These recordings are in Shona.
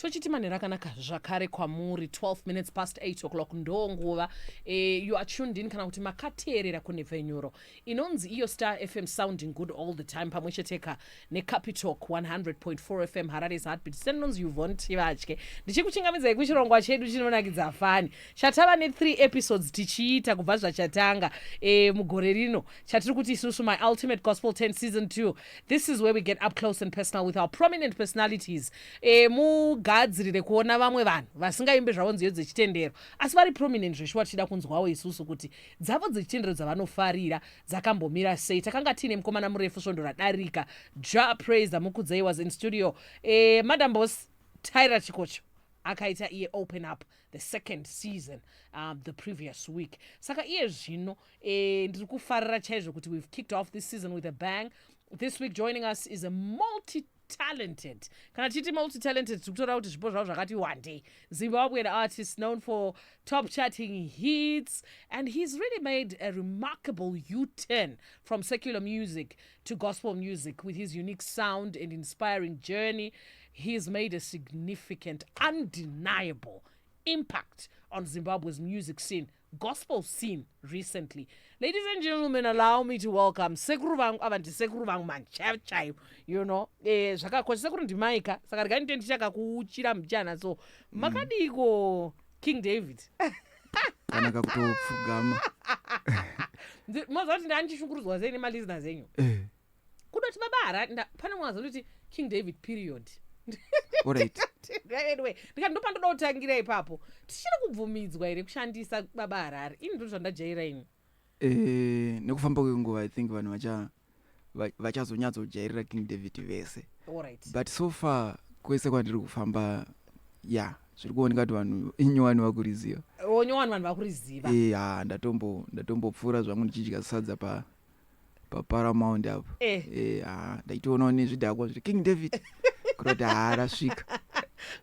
tochiti manhero akanaka zvakare kwamuri 12 minutes past 8 o'clock ndo nguva e, eh, you are tuned in kana kuti makateerera kunhepfenyuro inonzi iyo star fm sounding good all the time pamwe cheteka necapitalk 100.4 fm harare's heartbeat sendinonzi yuvon tivatye ndichikuchingamidzai kuchirongwa chedu chinonakidza fani chatava ne3 episodes tichiita kubva zvachatanga e, mugore rino chatiri kuti isusu my ultimate gospel 10 season 2 this is where we get up close and personal with our prominent personalities e, mugadzirire kuona vamwe vanhu vasingaimbe zvavo nziyo dzechitendero asi vari prominent zveshuwa tichida kunzwawo isusu kuti dzavo dzechitendero dzavanofarira dzakambomira sei takanga tiine mukomana murefu svondo radarika ja praise amukudzei was in studio e, madam bos tyra chikocho akaita iye open up the second season um, the previous week saka iye zvino eh, ndiri kufarira chaizvo kuti we've kicked off this season with a bang this week joining us is a multi talented kana tichiti multi talented tiri kutoda kuti zvipo zvavo zvakati wandei zimbabwean artist known for top charting hits and he's really made a remarkable u-turn from secular music to gospel music with his unique sound and inspiring journey. He has made a significant, undeniable impact on Zimbabwe's music scene, gospel scene recently. Ladies and gentlemen, allow me to welcome sekuru vangu ava ndisekuru vangu manchaivo chaivo you know eh, zvakakosha sekuru ndimai ka saka regai ndite ndichakakuuchira mbichana so mm. makadiiko mm. king david kana kakutopfugama moziva kuti ndaandichishungurudzwa sei nemalizners enyu eh. kudoti baba harati pane mwazo ndoti king david period anyway ndikati ndopandoda kutangira ipapo tichiri kubvumidzwa here kushandisa baba harari ini ndoti zvandajaira ini Eh, nekufamba kwenguva i think vanhu vachazonyatsojairira king david vese but so far kwese kwandiri kufamba ya zviri kuoneka kuti vanhu inyowani vakuriziva oh, nyowani vanhu vakuriziva eh, ya ndatombopfuura zvangu ndichidya sadza pa paparamount apo Eh. Eh, ah, ndaitoonawo nezvidhakwa zviri king david kuroti haa rasvika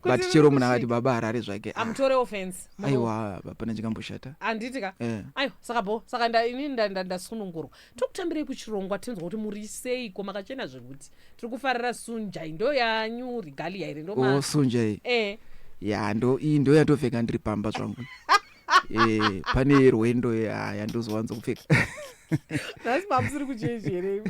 but Kuti chero munhu akati baba harare zvake ah, amutore offense Muno- aiwa hapana chikamboshata handiti ka Eh. aiwa saka bo saka nda- ini nda- nda- ndasunungurwa tiri kutambirei kuchirongwa tinzwa kuti muri seiko makachena zvekuti tiri kufarira sunjai ndo yanyu rigalia here ndoma osunjai eh ya ndo iyi ndo yatopfeka ndiri pamba zvangu eh, pane yerwendo yaya ndozowanza kupfeka nhasi mamusiri kuchechi here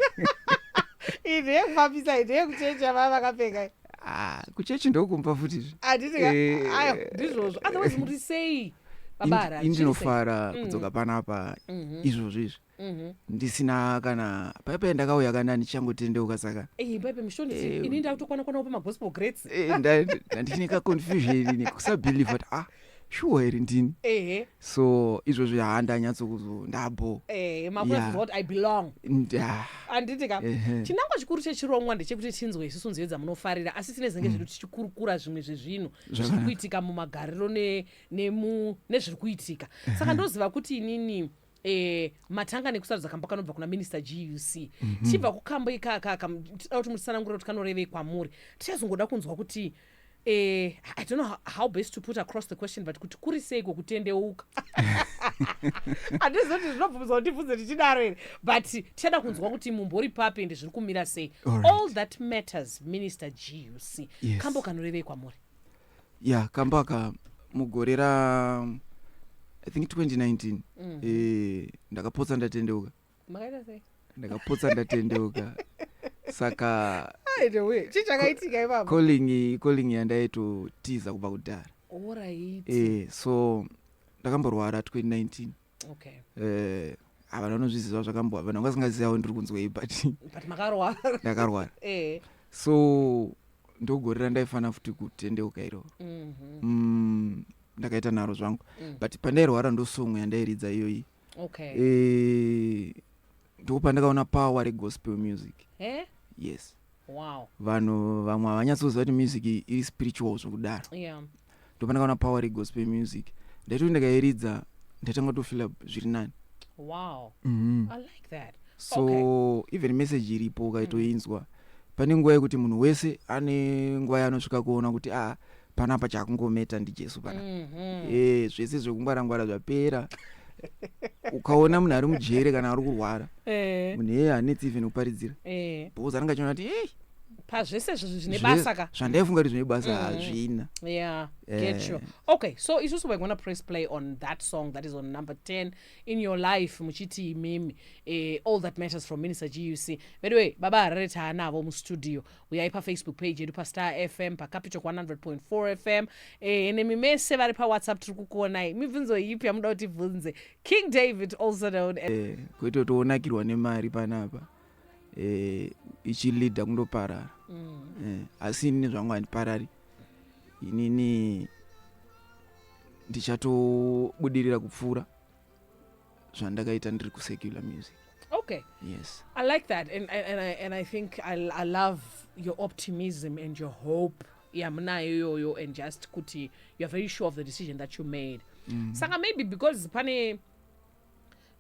ine yekufambisa ine yekuchechi yavaa vakapfeka ah, kuchechi ndokumba futizve anditika eh. ayo ndizvozvo otherwise muri sei babara indinofara mm. kudzoka panapa mhm. izvozvo izvi Mhm. ndisina kana paipa yandakauya kana ndichangotendeuka saka Eh, baibe mushoni Eh, ini ndakutokwana kwana kupa magospel grades eh, nda- nda- ndichine kaconfusion ini kusabelieve kuti ah shuwa here ndini ehe so izvozvo yaa ndanyatsokuzo ndabo eh makuna Yeah. kuziva kuti i belong nda handiti ka Ehe. chinangwa chikuru chechirongwa ndechekuti tinzwe isusu nziyo dzamunofarira asi tine zenge zvedu tichikurukura zvimwe zvezvinhu zviri Mm. Zvakanaka. kuitika mumagariro ne- nemu- nezviri kuitika saka ndoziva kuti inini Eh, matanga nekusarudza kambo kanobva kuna minister guc mm -hmm. tichibva kukambo ikakaka tida kuti mutsanangure kuti kanorevei kwamuri tichazongoda kunzwa kuti eh, i don't know how best to put across the question but kuti kuri seiko kutendeuka handizivi kuti zvinobvumidza kuti ndibvunze tichidaro here but tichada kunzwa kuti mumbori papi ende zviri kumira sei all, right. all that matters minister guc yes. kambo kanorevei kwamuri ya kamba aka mugore ra i think 2019 mm. e, ndakapotsa ndatendeuka ndakapotsa ndatendeuka saka calling calling yandaitotiza kubva kudhara e, so ndakamborwara 2019 okay. uh, havana vanozviziva zvakambo havana vasingazivawo ndiri kunzwei but ndakarwara eh. so ndogore randaifanira futi kutendeuka iroro mhm. mm, ndakaita nharo zvangu mm. but pandairwara ndosongo yandairidza iyoyi eh, ndiko pandakaona power regospel music eh? yes wow. vanhu vamwe havanyatsoziva kuti music iri spiritual zvokudaro yeah. ndopanaka ona power regospel music ndaitoti ndakairidza ndatanga tofila zviri nani wow. mm -hmm. I like that. so okay. even message iripo ukaitoinzwa mm -hmm. pane nguva yekuti munhu wese ane nguva yaanosvika kuona kuti a ah, panapa chakungometa ndijesu pana mm -hmm. e, eh, zvese zvekungwara ngwara zvapera ukaona munhu ari mujere kana ari kurwara eh. munhu eye hanetsi even kuparidzira eh. because anenge achiona kuti ei pazvese zvizvi zvine basa ka zvandaifunga kuti zvine basa mm. hazvina yeah eh. get you okay so isusu we're gonna press play on that song that is on number 10 in your life muchiti imimi eh, all that matters from minister guc veduwe baba harare taanavo mustudio uyai pafacebook page yedu pastar fm pacapital 100.4 fm ehe eh, nemi mese vari pawhatsapp tiri kukuonai mibvunzo yipi yamuda kuti bvunze king david also known as eh, kwete kuti wonakirwa nemari panapa eh, ichilida kundoparara mm. eh, asi inini zvangu handiparari inini ndichatobudirira kupfuura zvandakaita ndiri kusecular music okay yes i like that and, and, and, I, and i think I, i love your optimism and your hope yamunayo iyoyo and just kuti youare very sure of the decision that you made mm. saka maybe because pane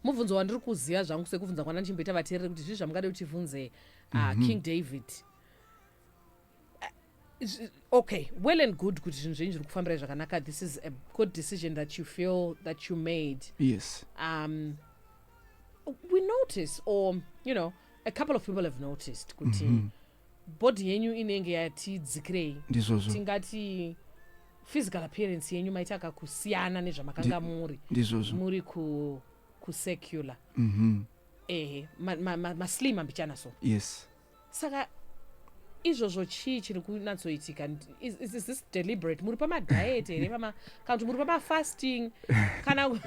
mubvunzo wandiri kuziva zvangu sekubvunza kwana ndichimboita vateereri kuti zvii zvamungade kutivhunze uh, mm -hmm. king david okay well and good kuti zvinhu zvenyu zviri kufambirai zvakanaka this is a good decision that you feel that you made yes um, we notice or you know a couple of people have noticed kuti mm -hmm. body yenyu inenge yatidzikirei ndizvozvo tingati physical appearance yenyu maita kakusiyana nezvamakanga muri ndizvozvo muri ku kusecular mm -hmm. ehe maslim ma, ma, ma ambichana so yes saka izvozvo chii chiri kunatsoitika is, is this deliberate muri pamadiet here kana kuti muri pamafasting kana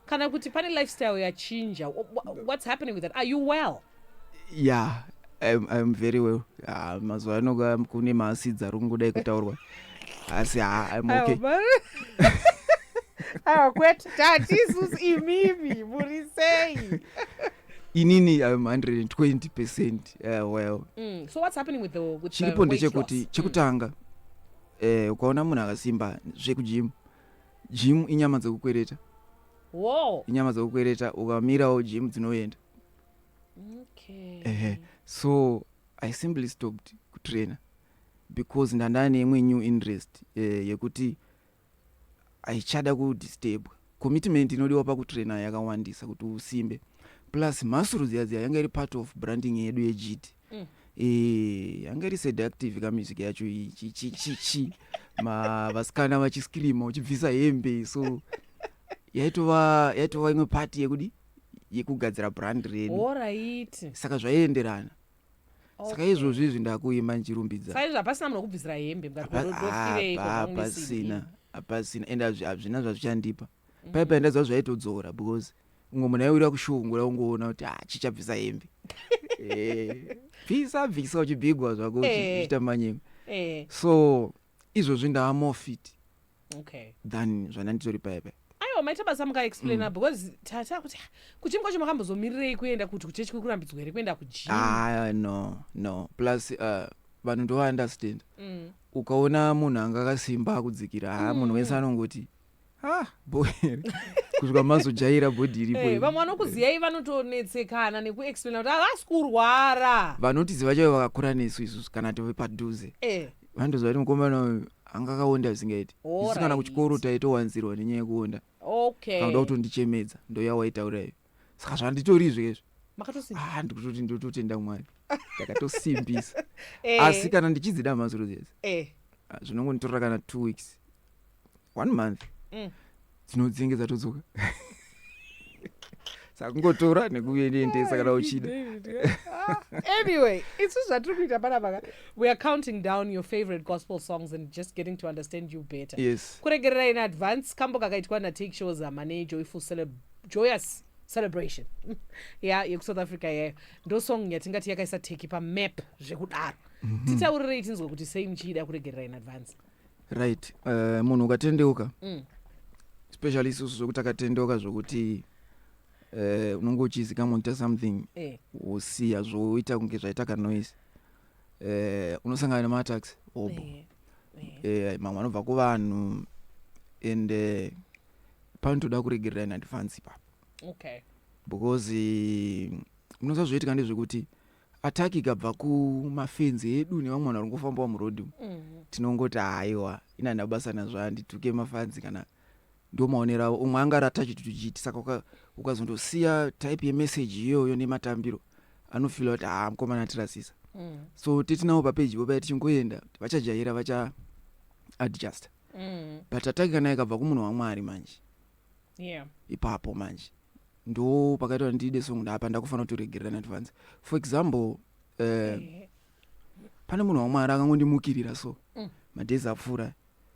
kana kuti pane lifestyle yachinja what's happening with that are you well yeah I'm, I'm very well ah, mazuva anoga kune maasidzi ari kungodai kutaurwa asi ha I'm okay awa kwete tati isusu imimi muri sei inini im 120 percent uh, well Mm. So what's happening with the with the chiripo weight ndechekuti loss? chekutanga eh, ukaona munhu akasimba zvekujimu jimu inyama dzekukwereta Mm. Whoa. inyama dzekukwereta ukamirawo jimu dzinoenda Okay. ehe so i simply stopped kutrainer because ndandane imwe new interest eh, yekuti haichada kudistebwa. Commitment inodiwa pakutrainer yakawandisa kuti usimbe plus mhasuru dziya dziya yanga iri part of branding yedu yegd mm. e, yanga iri seductive kamusic yacho ichichichichi vasikana vachiscreama uchibvisa hembe so yaitova yaitova imwe pati yekudi yekugadzira brand redu saka zvaienderana saka izvozvi izvi ndakuimba ndichirumbidza saizvo hapasina munhu wekubvisira hembe mukatihapasina hapasina ende hazvina zvazvichandipa mhm. paipa ndaiziva zvaitodzora because umwe munhu aiwira kushungura ungoona kuti ha ah, chichabvisa hembe eh, bvisa bvisa uchibigwa zvako eh. uchiita manyema eh. so izvozvi ndava more fit okay. than zvandanditori paye paye aiwa maita basa mukaexplaina mm. because tata kuti kuchimi kwacho makambozomirirei kuenda kuti kuchechi kuri kurambidzwa here kuenda kujim ah, no no plus uh, vanhu ndovaunderstand mm. ukaona munhu anga akasimba akudzikira haa mm. munhu wese anongoti ah boere kusvika mazojaira bhodhi iripo hey, eh, vamwe vanokuziyai vanotonetsekana nekuexplaina kuti havasi kurwara vanotiziva chaivo vakakura nesu isusu kana tove padhuze hey. Eh. vandoziva kuti mukomana uyu anga akaonda zvisingaiti isu kana kuchikoro taitowanzirwa nenyaya yekuonda okay. kanoda kutondichemedza ndoyawaitaura iyo saka zvanditori izvezvo ah, ndikutoti ndototenda mwari ndakatosimbisa eh. asi kana ndichidzida mazuro zese eh. ah, zvinongonditorera kana two weeks one month mm. dzinodzinge dzatodzoka sakungotora nekuendesa kana uchida ah, anyway isu zvatiri kuita panapaka we are counting down your favorite gospel songs and just getting to understand you better yes kuregerera in advance kambo kakaitwa natake shows amane joyful celeb joyous celebration ya yekusouth africa yayo ndo song yatingati yakaisa teki pamap zvekudaro mhm. titaurirei tinzwe kuti sei muchiida kuregerera in advance right uh, munhu ukatendeuka mm. especially isusu zvekuti takatendeuka zvokuti eh, unonge uchizi kama unoita something eh. wosiya zvoita kunge zvaita kanoise eh, unosangana nematax hobo mamwe anobva kuvanhu and panotoda kuregerera in advance ipapo okay. because eh, munosa zvoitika ndezvekuti attack ikabva kumafenzi edu nevamwe vanhu vari ngofambawo muroad mm -hmm. tinongoti haiwa ina ndina basa nazvo handituke mafanzi kana ndo maonero avo umwe anga ratachi tutuchiti saka ukazondosiya type yemessage iyoyo nematambiro anofila kuti haa mukomana atirasisa mm. so tetinawo papeji po paya tichingoenda vachajaira vacha adjust mm. but ataki kana ikabva kumunhu wamwari manje yeah. ipapo manje ndo pakaita kuti ndiide songo ndapa ndakufanira kutoregerera in advance for example uh, yeah. pane munhu wamwari akangondimukirira so mm. madhezi apfuura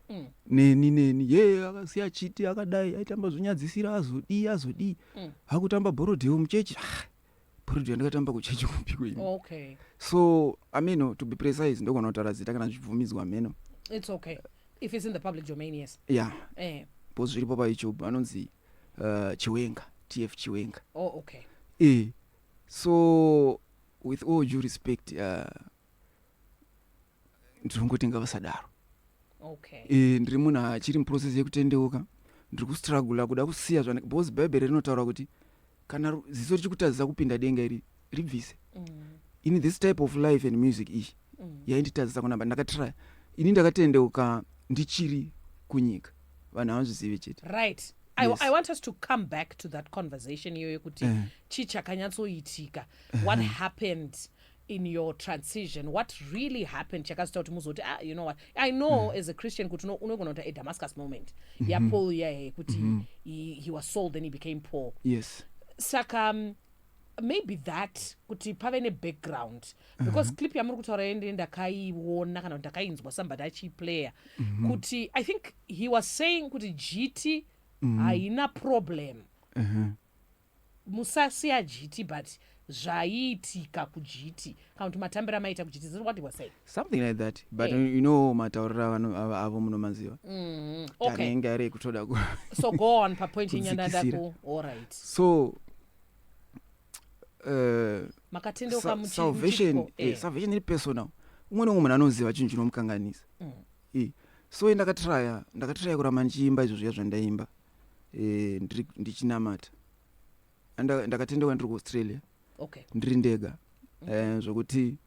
mm. neni neni ye yeah, akasiya chiti akadai aitamba zvonyadzisira azodii azodii mm. akutamba borodhewo muchechi ah, producer ndakatamba kuchechi kupiko ini okay so i mean no, to be precise ndogona kutaura zita kana zvibvumidzwa mheno it's okay if it's in the public domain yes yeah eh po zviripo pa youtube anonzi uh, chiwenga tf chiwenga oh okay eh so with all due respect uh, ndinongoti ngavasadaro okay. e, ndiri munhu achiri muprocess yekutendeuka ndiri kustrugula kuda kusiya zvana because bhaibheri rinotaura kuti kana ziso richikutadzisa kupinda denga iri ribvise mm. ini this type of life and music iyi mm. yainditadzisa kunamba ndakatraya ini ndakatendeuka ndichiri kunyika vanhu havanzvizive chete right I, yes. I want us to come back to that conversation iyoyo kuti uh. chii chakanyatsoitika uh -huh. what happened in your transition what really happened chakazoita kuti muzoti ah, you know what i know mm. as a christian kuti unogona kuti a damascus moment mm -hmm. yapaul yaye kuti mm -hmm. he, he was sold then he became paul yes saka um, maybe that kuti pave nebackground mhm. because uh -huh. clip yamuri kutaura yende ndakaiona kana kuti ndakainzwa somebody achiiplayer mm -hmm. kuti i think he was saying kuti jiti mhm. haina mm -hmm. problem uh mhm. -huh. Musasiya jiti but zvaiitika kujiti kana kuti matambiro amaiita kujiti ziri what it was said something like that but yeah. you know matauriro avanhu ava avo munomaziva mm -hmm. okay. tanenge ari ekutoda ku so go on papoint yenyandanda ku all right so Eh, eh. Eh, salvation iri personal umwe nomwe munhu anoziva chinhu chinomukanganisa mm. so ndakatraya ndakatraya kuramba ndichiimba izvo zviya zvandaimba e, ndiri ndichinamata Anda- ndakatendekwa ndiri kuaustralia okay ndiri ndega Eh, zvokuti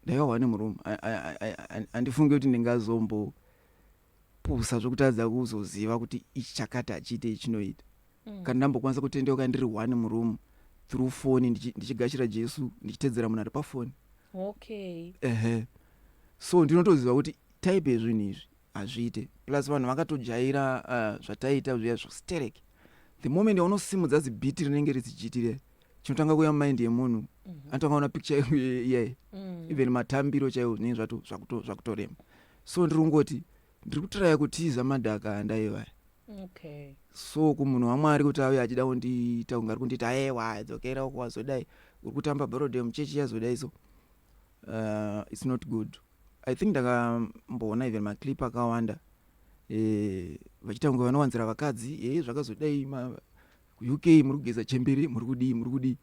ndaivawa nemurume A- a- a- a- a- handifunge kuti ndingazombopusa zvokutadza kuzoziva kuti ichi chakati hachiite ichinoita Mm. kana ndambokwanisa kutendeuka ndiri one murume through foni ndichi- ndichigashira jesu ndichitedzera munhu ari pafoni okay ehe so ndinotoziva kuti type yezvinhu izvi hazviite plus vanhu vakatojaira uh, zvataiita zviya zvekusterek the moment yaunosimudza zibhiti rinenge rizijitire chinotanga kuya mumind yemunhu mm -hmm. anotanga ona picture iyayi mm. even matambiro chaiwo zvinenge zvato zvakutorema so ndiri kungoti ndiri kutiraya kutiza madhaka andaivaya okay. so kumunhu wamwari kuti auye achida kundiita kunge ari kunditi aewa dzokera uko wazodai uri kutamba brodem chechi yazodai so uh, its not good i think ndakamboona even maclip akawanda eh, vachiita kunge vanowanzira vakadzi e eh, zvakazodai uk muri kugeza chembere muri kudii muri kudii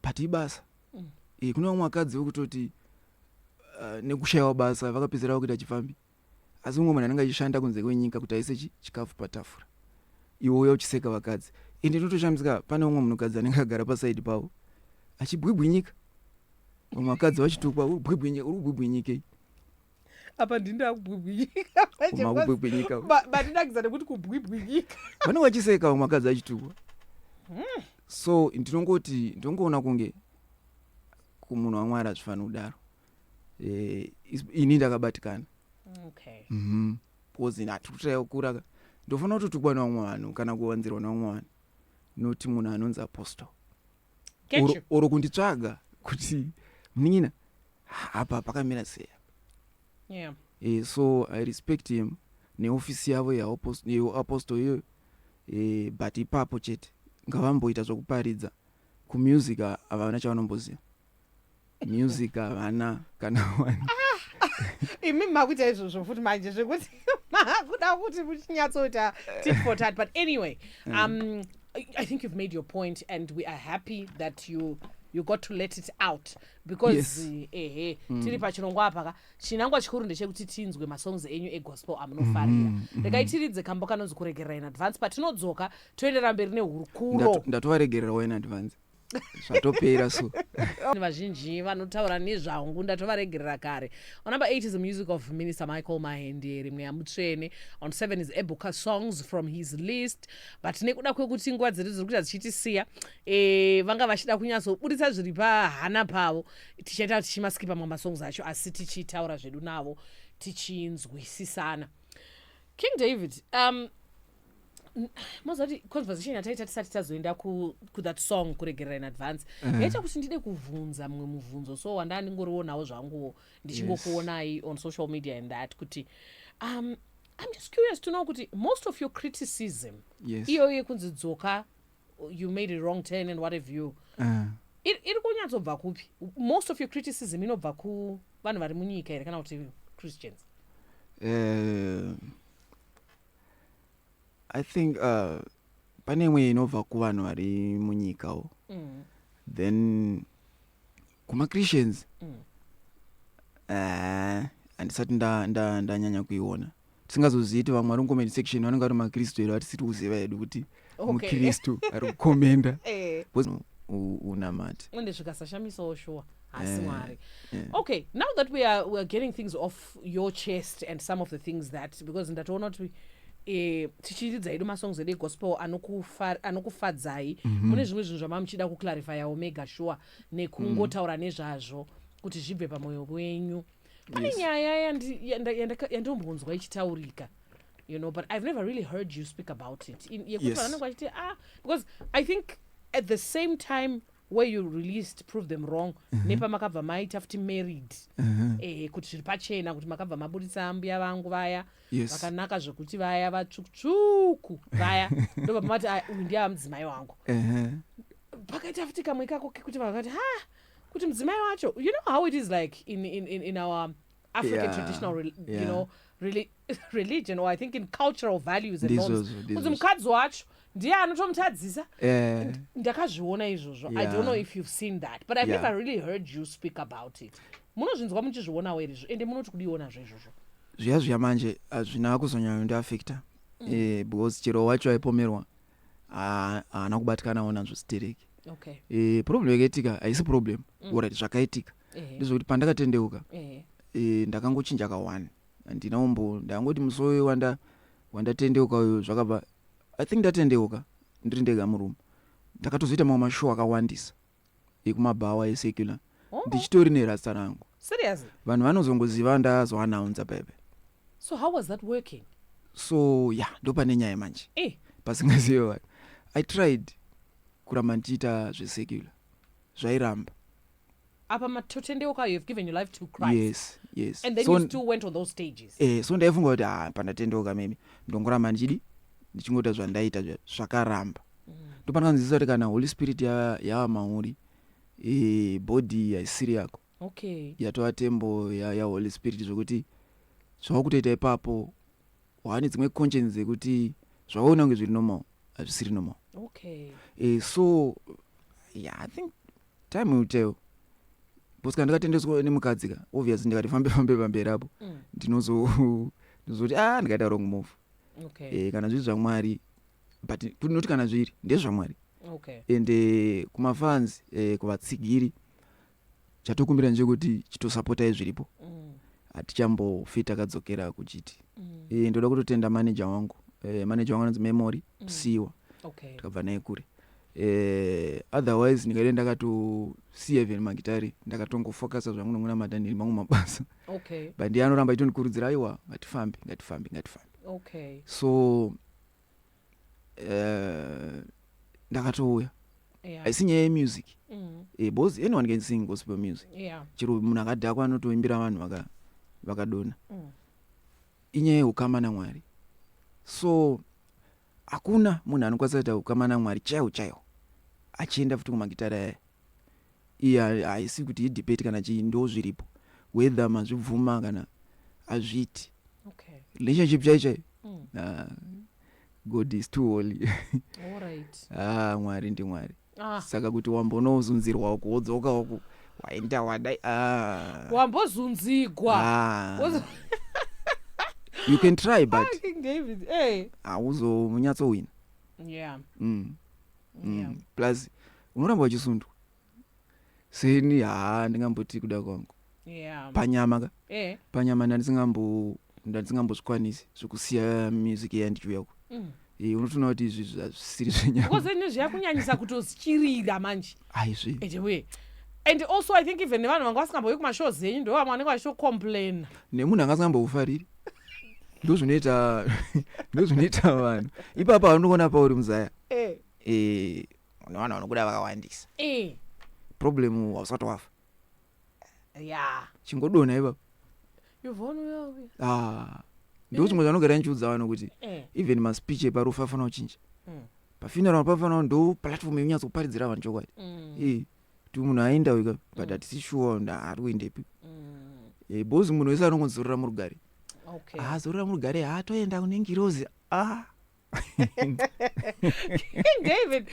but ibasa mm. e, kune vamwe vakadzi vekutoti uh, nekushayiwa basa vakapedzera vakuita chifambi Asi mumwe munhu anenge achishanda kunze kwenyika kuti aise chikafu patafura iwe uya uchiseka vakadzi and ndinotoshamisika pane umwe munhukadzi anenge agara pasaidi pavo achibwibwinyika vamwe vakadzi vachitukwa uri kubwibwinyika uri kubwibwinyikei apa ndini ndakubwibwinyika batidakidza nekuti kubwibwinyika vanenge vachiseka vamwe vakadzi achitukwa hmm. so ndinongoti ndinongoona kunge kumunhu wamwari hazvifanira kudaro eh, ini ndakabatikana okay. mm -hmm. because hatikutayakura ka ndofanira kutotukwa nevamwe vanhu kana kuwanzirwa nevamwe vanhu noti munhu anonzi apostle oro kunditsvaga kuti munin'ina hapa pakamira sei yeah. e, so i respect him neofisi yavo yeapostle iyoyo e, but ipapo chete ngavamboita zvokuparidza kumusic havana chavanomboziva music havana kana one imi makuita izvozvo futi manje zvekuti makuda kuti muchinyatsoita tit for tat but anyway Mm. um, I- i think you've made your point and we are happy that you you got to let it out because Yes. Mm. eh, ehe tiri pachirongwa apa ka chinangwa chikuru ndechekuti tinzwe masongs enyu egospel amunofarira Mm-hmm, regai tiridze kambo kanonzi kuregerera in advance patinodzoka toenderera mberi nehurukuro Ndato- ndatovaregererawo in advance zvatopera so vazhinji vanotaura nezvangu ndatovaregerera kare on number 8 is the music of minister michael mahendere mweya mutsvene on 7 is eboka songs from his list but nekuda kwekuti nguva dzedu dziri kuita dzichitisiya e, vanga vachida kunyatsoburitsa zviri pahana pavo tichaita tichimaskipa mamwe masongs acho asi tichitaura zvedu navo tichinzwisisana king david um, moziva kuti conversation yataita tisati tazoenda kuthat song kuregerera in advance eh. yaita kuti ndide kuvhunza mumwe muvhunzo so wandaa ndingorionawo zvanguwo ndichingokuonai on social media and that kuti um, i'm just curious to know kuti most of your criticism iyoyo yekunzi dzoka you made a wrong turn and what have you eh. iri kunyatsobva kupi most of your criticism inobva kuvanhu vari munyika here kana kuti christians eh, i think uh, pane imwe inobva kuvanhu vari munyikawo mm. then kumachristians mm. uh, handisati ndanyanya kuiona tisingazozivi ti vamwe vari mucomment section vanenge vari makristu here vatisiri kuziva hedu kuti okay. mukristu ari kukomenda eh. unamati ende zvikasashamisawo shuwa hasi eh, mwari eh. okay now that we are, we are getting things off your chest and some of the things that because ndatoona kuti eh, tichiridza hedu masongs edu egospel anokufadzai mhm. mune zvimwe zvinhu zvamava muchida kuclarifyawo mega shuwa nekungotaura nezvazvo kuti zvibve pamwoyo wenyu pane nyaya yandombonzwa ichitaurika you know but i've never really heard you speak about it In- yekuti Yes. vanenge vachiti ah because i think at the same time where you released prove them wrong nepamakabva maita futi married eh, kuti zviri pachena kuti makabva maburitsa ambuya vangu vaya Yes. vakanaka zvekuti vaya vatsvukutsvuku vaya ndobva mati "Ah, uyu ndiye amudzimai wangu Ehe. pakaita futi kamwe ikako kekuti vanhu vakati ha kuti mudzimai wacho you know how it is like in, in, in, in our African yeah, traditional, re, yeah. you know, really, religion or I think in cultural values and norms. Kuti mukadzi wacho ndiye anotomutadzisa eh. ndakazviona izvozvo i don't know if you've seen that but i've yeah. never really heard you speak about it munozvinzwa muchizvionawo here izvo ende munoti kudionazvo izvozvo zviya zviya manje hazvina kuzonyanya ndiafecta mm. eh, because chero wacho aipomerwa haana kubatikanawo nazvo stereki okay. eh, problem yakaitika haisi problem mm. orit zvakaitika ndizvokuti pandakatendeuka e, ndakangochinja ka one handina umbo ndakangoti musi uyu wanda wandatendeuka uyu zvakabva i think ndatendeuka ndiri ndega murume ndakatozoita mamwe mashow akawandisa ekumabhawa esecular oh. ndichitori nerasta rangu vanhu vanozongoziva ndazoanaunza bebe so how was that working so ya yeah, ndopane nyaya manje eh. pasingazive vanhu i tried kuramba ndichiita zvesecular zvairamba apa matotendeuka you have given your life to christ yes yes and then so, you still went on those stages eh, so ndaifunga kuti ha ah, pandatendeuka mimi ndongoramba ndichidi ndichingoita zvandaita zvakaramba mm. ndopanakanzisa kuti kana holy spirit yava ya mauri e, body haisiri yako okay. yatova tembo yaholy ya spirit zvekuti zvava kutoita ipapo waane dzimwe conscience dzekuti zvawaona kunge zviri normal hazvisiri normal okay. e, so yeah, i think time will tell bcause kana ndikatendeswa nemukadzi ka obvious ndikati fambe fambe pamberi apo mm. ndinozoti a ah, ndikaita wrong move okay. e, kana zviri zvamwari but kunoti kana zviri ndezvamwari okay. ende eh, kumafans e, kuvatsigiri chatokumbira ndechekuti chitosapotai zviripo mm. hatichambofi takadzokera kuchiti mm. e, ndoda kutotenda maneja wangu e, maneja wangu anonzi memory mm. psiwa okay. tikabva naye kure e, otherwise ndikade ndakatosiya even magitari ndakatongofocusa zvangu nokunamata ndiri mangu mabasa okay. but ndiye anoramba itondikurudzira aiwa ngatifambe ngatifambe ngatifambe okay. so uh, ndakatouya yeah. haisi nyaya yemusic mm. eh, bcause anyone can sing gospel music yeah. chero munhu akadhakwa anotoimbira vanhu vakadona vaka mm. inyaya yeukama namwari so hakuna munhu anokwanisa kuita ukama namwari chaiwo chaiwo achienda futi kumagitara yaya Iya haisi kuti idebate kana chii ndozviripo whether mazvibvuma kana hazviiti okay. relationship chai chai mm. uh, god is too holy right. ah, mwari ndi mwari ah. saka kuti wambonozunzirwa uku wodzoka uku waenda wadai ah. wambozunzigwa ah. you can try but hauzonyatsohwina yeah. mm. mm. yeah. plus unoramba uchisundwa seni haa ndingamboti kuda kwangu yeah. panyama ka eh. panyama ndandisingambozvikwanisi zvekusiya music iya ndichiuya ku mm. e, eh, unotoona kuti izvi zvisiri zvenyamakozeni zviyakunyanyisa kutozichirira manje aizvi edewe and also i think even nevanhu vanga vasingambouyi kumashows enyu ndo vamwe vanenge vachitocomplaina nemunhu anga asingamboufariri ndozvinoita ndozvinoita vanhu ipapa vanokuona pauri muzaya eh. Eh, une vanhu vanokuda vakawandisa eh problem hausati wafa yeah chingodona ipapa you've won well with ah ndiko chimwe chanogara ndichiudza vanhu kuti eh even maspeech eparufu afana kuchinja Mm. pafuneral pafana ndo platform yonyatso kuparidzira vanhu chokwadi mm, Eh, kuti munhu aenda weka but hatisi sure nda- ari kuendepi mm, Eh, bhozi munhu wese anongozorora murugare okay azorora murugare haatoenda kune ngirozi ah david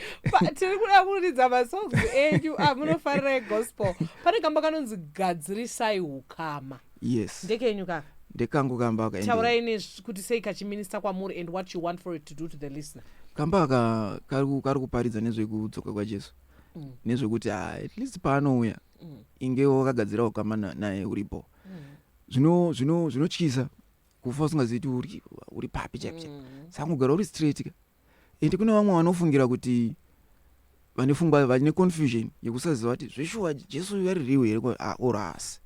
tiri kuda kuridza masongs enyu amunofarira ah, egospel pane kamba kanonzi gadzirisai ukama yes ndekenyu kaka ndekangu kamba aka taurai ne kuti sei kachiminista kwamuri and what you want for it to do to the listener kamba aka kari kuparidza nezvekudzoka kwajesu mm. nezvekuti ah, at least paanouya mm. inge wakagadzira ukama naye uripo mm. zvinotyisa kufa usingazivi kuti uri papi chaipi chaipi mm. saka kugara uri straight ka and kune vamwe vanofungira kuti vane fungwa vane confusion yekusaziva kuti zveshuwa jesu uyu ari riwe here ah, or haasi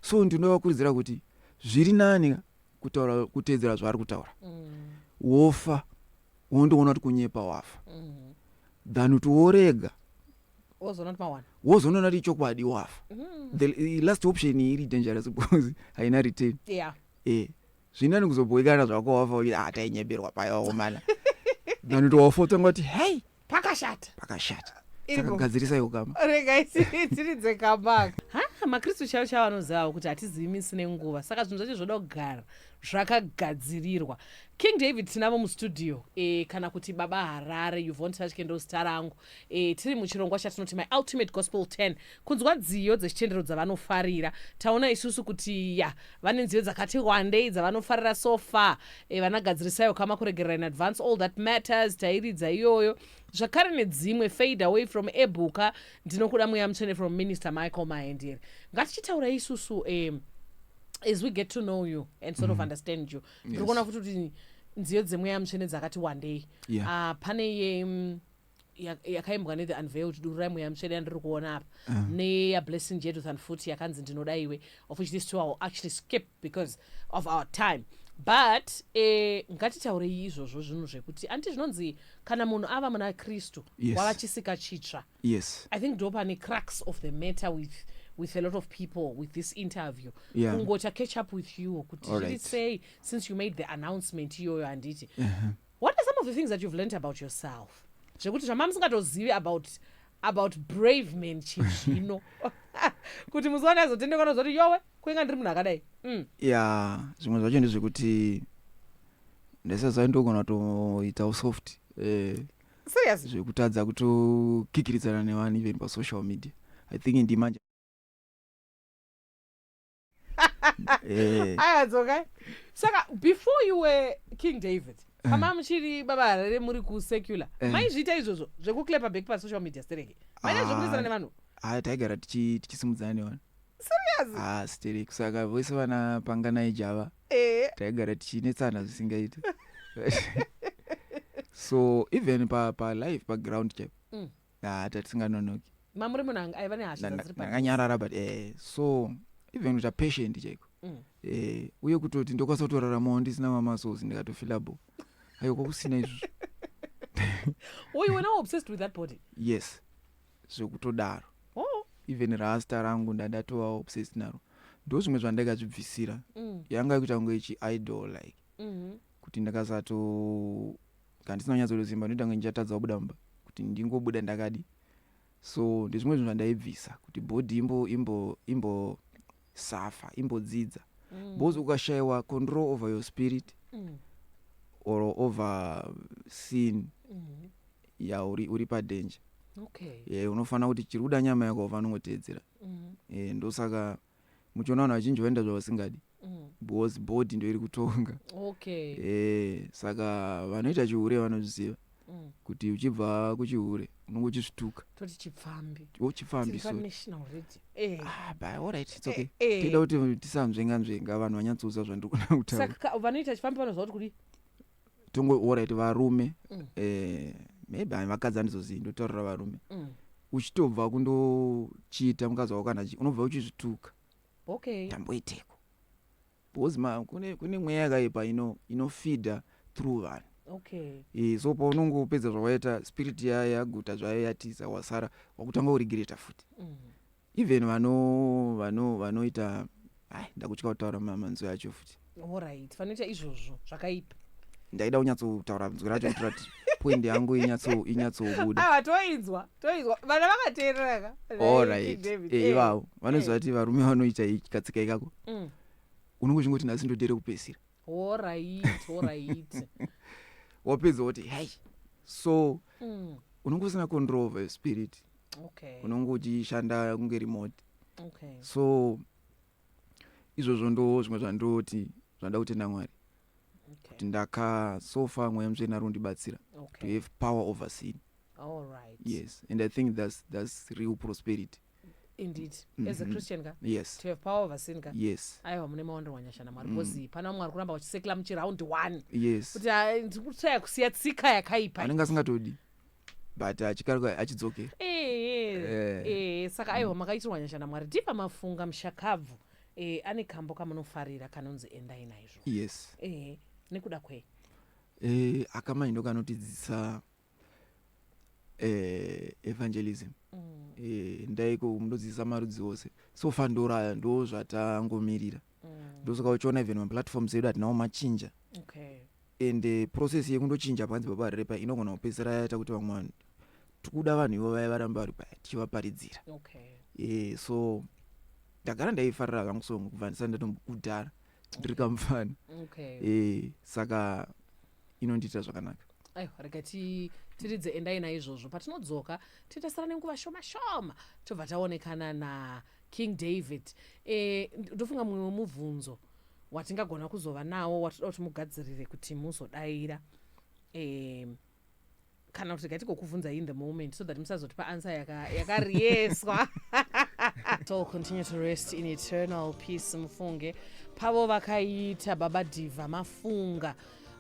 so ndinovakurudzira kuti zviri nani ka kutaura kuteedzera zvaari kutaura mm. wofa wondoona kuti kunyepa wafa mm. than kuti worega wozoona kuti mawana wozoona kuti ichokwadi wafa mm. the last option iri dangerous because haina retain yeah. eh zvinani kuzobhoikana zvako wafa uye ah tainyebirwa paya wakomana vanoti wafotanga kuti hei pakashata pakashata gadzirisa iyo kama regai tiridze kambaka ha makristu chavo chavo anozivawo kuti hatizivi misi nenguva saka zvinhu zvacho zvoda kugara zvakagadzirirwa king david tinavo mustudio e, kana kuti baba harare yuvontaskendo zita rangu E, tiri muchirongwa chatinoti my ultimate gospel 10 kunzwa nziyo dzechitendero dzavanofarira taona isusu kuti ya vane nziyo dzakati wandei dzavanofarira so far e, eh, vanagadzirisaiwo kama kuregerera in advance all that matters tairidza iyoyo zvakare nedzimwe fade away from ebhuka ndinokuda mweya mutsvene from minister michael mahendere ngatichitaura isusu e, as we get to know you and sort mm. of mm-hmm. understand you ndiri kuona yes. futi kuti nziyo dzemweya mutsvene dzakati wandei yeah. uh, pane ye um, yakaimbwa nethe unveiled dururai mweya mutsvene yandiri kuona apa ah. neyablessing jeduthan futi yakanzi ndinoda iwe of which this two actually skip because of our time but eh, ngatitaurei izvozvo zvinhu zvekuti anti zvinonzi kana munhu ava muna kristu yes. wava chisika chitsva yes. i think ndo pane cracks of the matter with with a lot of people with this interview yeah. kungota catch up with you kuti zviri right. sei since you made the announcement iyoyo handiti uh -huh. What are some of the things that you've learnt about yourself zvekuti zvamamusingatozivi about about brave man chizvino kuti muziwane azotendekwa nozoti yowe kuinga ndiri munhu akadai mm. ya zvimwe zvacho ndezvekuti ndaisaziva ndogona kutoita usoft eh, serious zvekutadza kutokikiridzana nevanhu even pasocial media i think ndimanje Eh, aya dzokai saka before you were king david kama muchiri baba harare muri kusecular Eh. maizviita izvozvo zvekuclapa back pasocial media stereki maita zvekunesana Ah. nevanhu ah, taigara tichi- tichisimudzana nevanhu serious ah, stereki saka vose vana panganai java eh taigara tichinetsana zvisingaiti so even pa, pa live paground chap Mm. ah, tatisinganonoki mamuri munhu anga- aiva nehasha dzanga dziri padhuze. ndakanyarara but eh, so even kuita patient chaiko Mm. eh, uye kutoti ndokwanisa kutoraramawo ndisina mamasos ndikatofilable ayo kwakusina izvozvo Were you now obsessed with that body? yes zvekutodaro Oh. even rasta rangu ndandatova obsessed naro ndo zvimwe zvandakazvibvisira Mm. yanga ikuita kunge chiidol like Mhm. kuti ndakasato kana ndisina kunyatso kuita simba ndinoita kunge ndichatadza kubuda mumba kuti ndingobuda ndakadi so ndezvimwe zvinhu zvandaibvisa kuti body imbo imbo imbo safa imbodzidza mm. because ukashayiwa control over your spirit mm. or over sin mm. ya uri, uri padanger okay. yeah, unofanira kuti chiri kuda nyama yako ufanira kungoteedzera mm. yeah, ndosaka mm. muchiona vanhu vazhinji vaenda zvavasingadi mm. because body ndoiri kutonga okay. e, saka vanoita chihure vanozviziva mm. kuti uchibva kuchihure unenge uchisvituka toti chipfambi oh, chipfambi eh. ah, eh, eh. tida kuti tisanzvenga nzvenga vanhu vanyatsouza zvandiri kuda kutaura vanoita chipfambi vanoziva kuti kudi tongo orit varume mm. eh, maybe hai vakadzi andizozivi ndotaurira varume mm. uchitobva kundochiita mukadzi wako kana unobva uchizvituka okay. tamboiteko because ma kune, kune mweya yakaipa ino inofida through vanhu okay. e, so paunonge upedza zvawaita spirit yayo yaguta zvayo yatiza wasara wakutanga urigreta futi mm. even vano vano vanoita ai ndakutya kutaura manzwi acho futi orit vanoita izvozvo zvakaipa ndaida kunyatsotaura nzwi racho kuitira kuti point yangu inyatsobuda awa ah, toinzwa toinzwa vana vakateereraka orit eh, eh. ivavo vanoziva kuti varume vanoita katsika ikako mm. unenge uchingoti nhasi ndodere kupesira orit orit wapedza woti hei so mm. unenge usina control of spirit okay. unonge uchishanda kunge remote okay. so izvozvo ndo zvimwe zvandoti zvanda kutenda mwari okay. kuti ndaka so far mweya mutsvene ari kundibatsira okay. to have power over sin All right. yes and i think that's, that's real prosperity indeed mm -hmm. as a mm-hmm. christian ka yes to have power over sin ka yes aiwa mune maonero wanyasha namwari mm. because pana vamwe vari kuramba vachisekla muchiround one yes kuti ah, ndiri kutsvaya kusiya tsika yakaipa anenge asingatodi but achikaruka hachidzokeri Eh, Eh. eh, saka aiwa makaitirwa nyasha namwari ndipa mafunga mushakabvu eh, ane kambo kamunofarira kanonzi endai naizvo yes eh, nekuda kwei eh, akamai ndo kanotidzidzisa eh, evangelism Mm. eh, ndaiko munodzidzisa marudzi ose so far ndoraya ndo zvatangomirira ndosaka uchiona even maplatforms edu atinawo machinja okay. and eh, process yekundochinja panzi baba repa inogona kupedzisira yaita kuti vamwe vanhu tikuda vanhu ivo vaya varamba vari paya tichivaparidzira okay. e, so ndagara ndaifarira kangu so kubva ndisati ndatombokudhara ndiri kamufana okay. e, saka inondiita zvakanaka ayo rega tiridze endai naizvozvo patinodzoka titasara nenguva shoma shoma tobva taonekana na King David, eh, ndofunga mumwe wemubvunzo watingagona kuzova nawo watoda kuti mugadzirire kuti muzodaira eh, kana kuti gaiti kokuvhunza in the moment so that musazoti paansa yakariyeswa yaka so continue to rest in eternal peace mufunge pavo vakaita baba diva mafunga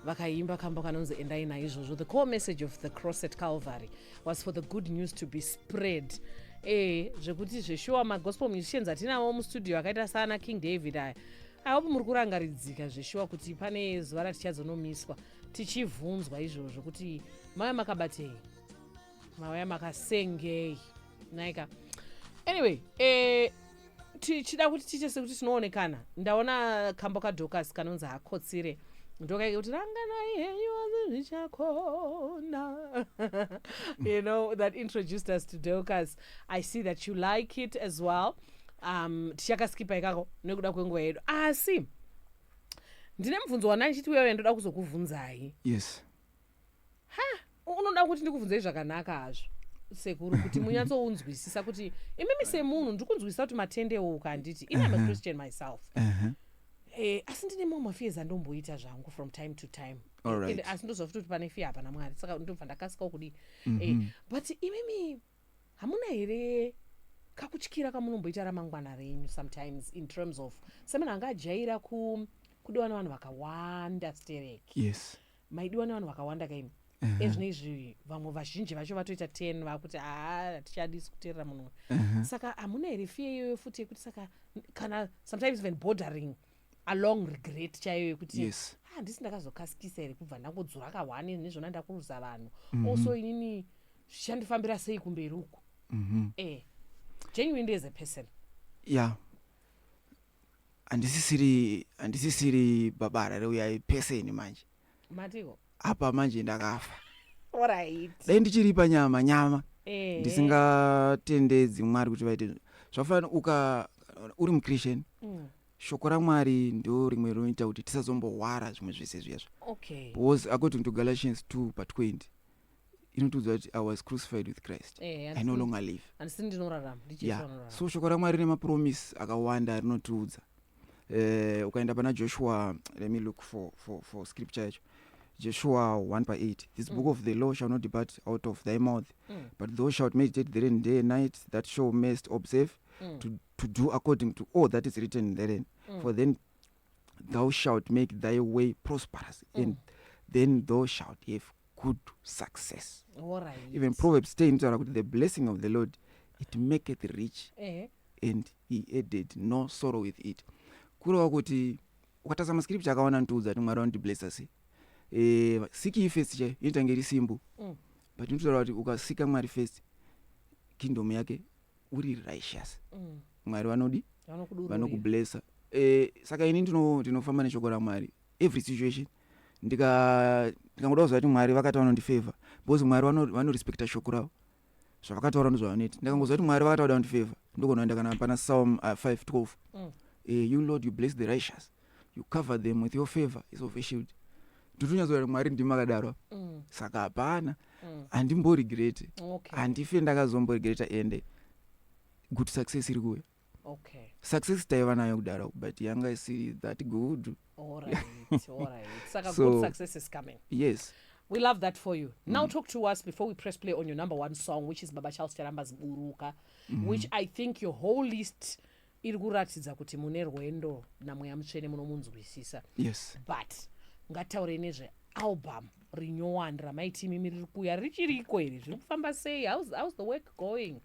vakaimba kambo kanonzi endai naizvozvo the core message of the cross at calvary was for the good news to be spread ee zvekuti zveshuwa magospel musicians atinavo mustudio akaita saana king david aya aihope muri kurangaridzika zveshuwa kuti pane zuva ratichazonomiswa tichivhunzwa izvozvo kuti mave makabatei mauya makasengei naika anyway eh, tichida kuti tiite sekuti tinoonekana ndaona kambo kadhokasi kanonzi hakotsire ndokaita kuti ranganai henyu asi zvichakona you know that introduced us to docas i see that you like it as well um, tichakaskipa ikako nekuda kwenguva yedu asi ndine mubvunzo wandaichiti uyauya ndoda kuzokuvhunzai yes ha unoda kuti ndikubvunzei zvakanaka hazvo sekuru kuti munyatsounzwisisa kuti imimi semunhu ndiri kunzwisisa kuti matendewo ukanditi ini am a christian myself Eh, asi ndine mamwe mafears andomboita zvangu from time to time All right. And asi ndoziva futi kuti pane fear hapana mwari saka ndobva ndakasikawo kudii Eh, but imimi hamuna here kakutyira kamunomboita ramangwana renyu sometimes in terms of semunhu anga ajaira ku kudiwa nevanhu vakawanda stereki yes maidiwa nevanhu vakawanda ka imi ezvino izvi vamwe vazhinji vacho vatoita ten vakuti haa hatichadisi kuteerera munhu uyu saka hamuna here fiye iyoyo futi yekuti saka n- kana sometimes even bordering along regret chaiyo yekuti Yes. "Ah, handisi ndakazokasikisa here kubva ndangodzura kahwani nezvona ndakuruza vanhu Mhm. also inini zvichandifambira sei kumberi uku Mhm. eh genuinely as a person ya handisisiri handisisiri baba harare uyai pese ini manje matiko apa manje ndakafa orit dai ndichiripa nyama nyama Eh. ndisingatendedzi mwari kuti vaite zvakafanana uka uri muchristian Mm. shoko ramwari ndo rimwe rinoita kuti tisazombohwara zvimwe zvese zviyazvo okay because according to galatians 2 pa 20 inotiudza kuti i was crucified with christ eh, i no longer live andisi ndinorarama yeah. so shoko ramwari rine mapromisi akawanda rinotiudza uh, ukaenda pana joshua let me look for, for, for scripture yacho joshua 1 pa 8 this mm. book of the law shall not depart out of thy mouth mm. but thou shalt meditate therein day and night that shall mest observe mm. to, to do according to all that is written therein mm. for then thou shalt make thy way prosperous mm. and then thou shalt have good success right. even proverbs 10 inotaura kuti the blessing of the lord it maketh rich eh. and he added no sorrow with it kureva kuti ukatarisa mascripture akawana ntiudza kuti mwari vanotiblessa sei eh, siki ifest chaiyo inotange iri simbu mm. but inotaura kuti ukasika mwari first kingdom yake uri righteous mm. mwari vanodi vanokublessa eh, saka ini ndinofamba neshoko ramwari every situation ndikangoda tika kuziva kuti mwari vakati vanondifavor because mwari vanorespecta shoko ravo zvavakataura ndozvavanoita ndakangoziva kuti mwari vakatauda kundifavor ndokuona ndakana pana psalm 512 uh, mm. eh, you lord you bless the righteous you cover them with your favor is of a shield ndotonyatsoa kuti mwari ndimi makadaro mm. saka hapana mm. handimboregrete okay. handife ndakazomboregreta ende good success iri kuuya okay. success taiva nayo kudaro but yanga isiri that good all right, all right. saka so, good success is coming yes We love that for you. Mm. Now talk to us before we press play on your number one song, which is Baba Charles Charamba's Buruka, mm. which I think your whole list iri kuratidza kuti mune rwendo namweya mutsvene munomunzwisisa yes but ngataurei nezve album rinyowani ramaiti imimi riri kuuya richiriko iri zviri kufamba sei how's, how's the work going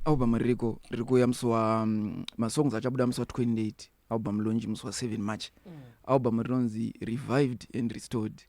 album ririko riri kuuya musi wa mm, masongs achabuda musi wa 28 album launch musi wa 7 march mm. album rinonzi revived and restored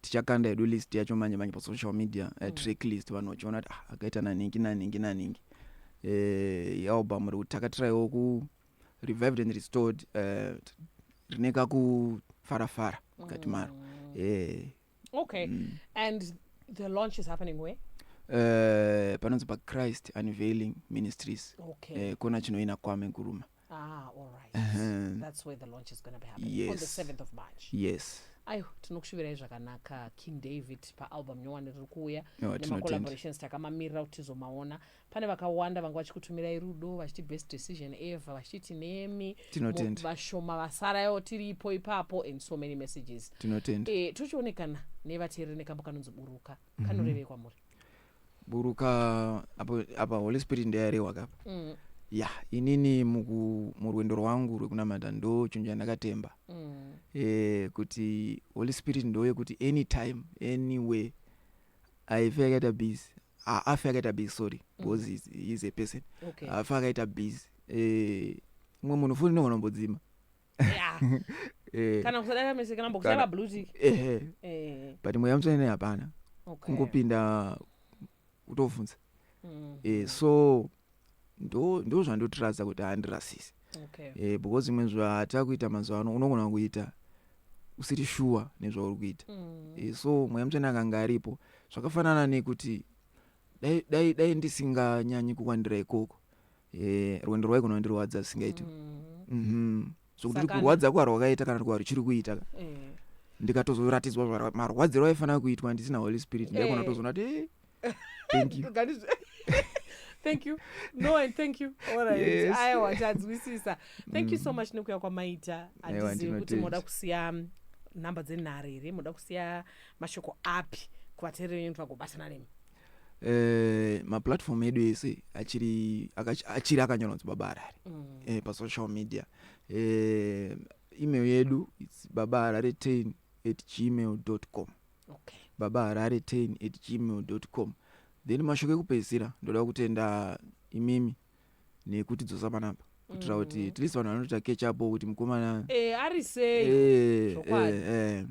tichakanda hedu list yacho manje manje pasocial media uh, mm. track list vanhu vachiona kuti ah, akaita nanhingi nanhingi nanhingi uh, eh, yealbum iri kuti takatiraiwo ku revived and restored uh, eh, rine kakufarafara mukati mm. maro uh, okay mm. and the launch is happening where uh, panonzi pachrist unveiling ministries okay. uh, kona chinoina kwame guruma Ah, all right. Uh -huh. That's where the launch is going to be happening yes. on the 7th of March. Yes. ayo tinokushuvirai zvakanaka king david paalbum nyowani riri kuuya no, nemacollaborations takamamirira kuti tizomaona pane vakawanda vanga vachikutumirai rudo vachiti best decision ever vachiti nemi vashoma vasarayo tiripo ipapo and so many messages tinotenda e, tochionekana nevateereri nekambo kanonzi buruka mhm. kanorevei kwamuri buruka apo apa holy spirit ndeyarehwa kapa mm. ya inini muku murwendo rwangu rwekunamata ndo chinhu chandakatemba mm. e, kuti holy spirit ndo yekuti anytime anyway aife akaita busy haafi akaita busy sorry mm. because mm. he's, he's a person haafi okay. akaita busy e, mwe munhu futi ndogona mbodzima Yeah. Eh, kana kusadaka mese kana mbokushaya Kana- mablue tick ehe Eh, but mweya mutsvene naye hapana okay. kungopinda kutovhunza Mm, eh, so ndo ndo zvandotiratidza kuti handirasisi okay. eh, because imwe zvaata kuita mazuva ano unogona kuita usiri shuwa nezvauri kuita Mm, Eh, so mweya mutsvene akanga aripo zvakafanana nekuti dai- dai dai ndisinganyanyi kukwandira ikoko Eh, rwendo rwaiko runondirwadza zvisingaiti Mhm. so kuti Sakana. kurwadza kwarwakaita kana kuti kwaruchiri kuita ka Eh. ndikatozoratidzwa zvara- marwadziro aifanira kuitwa ndisina holy spirit ndaikona Eh. kutozoona kuti eh, thank you Kugani zve- thank you no and thank you alright Yes. Mm. aiwa tanzwisisa thank you so much nekuya kwamaita Aiwa, handizivi kuti ndinotenda. moda kusiya mm, nhamba dzenhare here moda kusiya mashoko api kuvateereri venyu kuti vagobatana nemi eh, maplatform edu ese achiri achiri akanyorwa nzi baba harare mm. eh, pasocial media eh, email yedu its baba harare ten at gmail dot com okay. baba harare ten at gmail dot com then mashoko ekupedzisira ndoda kutenda imimi nekuti dzosa panapa kutira kuti mm. at least vanhu vanoita catch up kuti mukomana eh, ari sei eh, eh, eh.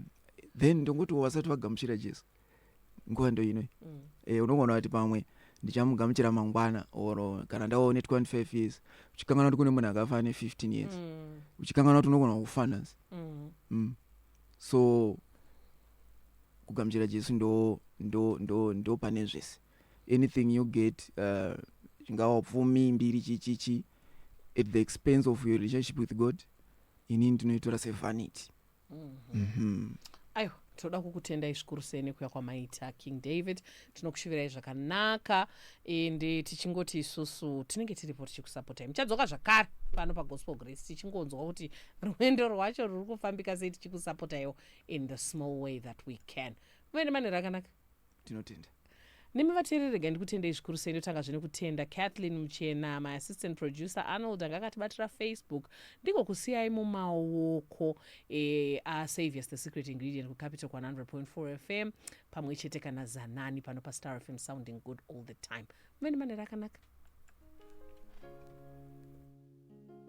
then ndongoti wasati vagamuchira jesu nguva ndoino e, mm. eh, unogona kuti pamwe ndichamugamuchira mangwana or kana ndaone 25 years uchikanganwa kuti kune munhu akafa ane 15 years mm. uchikanganwa kuti unogona kufanans mm. mm. so kugamuchira jesu ndo ndo ndo ndo pane zvese anything you get uh, chingava uh, pfumi mbiri chichichi at the expense of your relationship with god inini ndinoitora sevanity mm-hmm. mm-hmm. aiwa tinoda kukutendai zvikuru sei nekuya kwamaita king david tinokushivirai zvakanaka and eh, tichingoti isusu tinenge tiripo tichikusapotai muchadzoka zvakare pano pagospel grace tichingonzwa kuti rwendo rwacho ruri kufambika sei tichikusapotaiwo in the small way that we can muende manhero akanaka tinotenda nemi vateereri regai ndikutendei zvikuru sei ndotanga zvine kutenda kathleen muchena my assistant producer arnold anga akatibatira facebook ndiko kusiyai mumaoko e, asaviors the secret ingredient kucapital 100.4 fm pamwe chete kana zanani pano pastar fm sounding good all the time muveni manera akanaka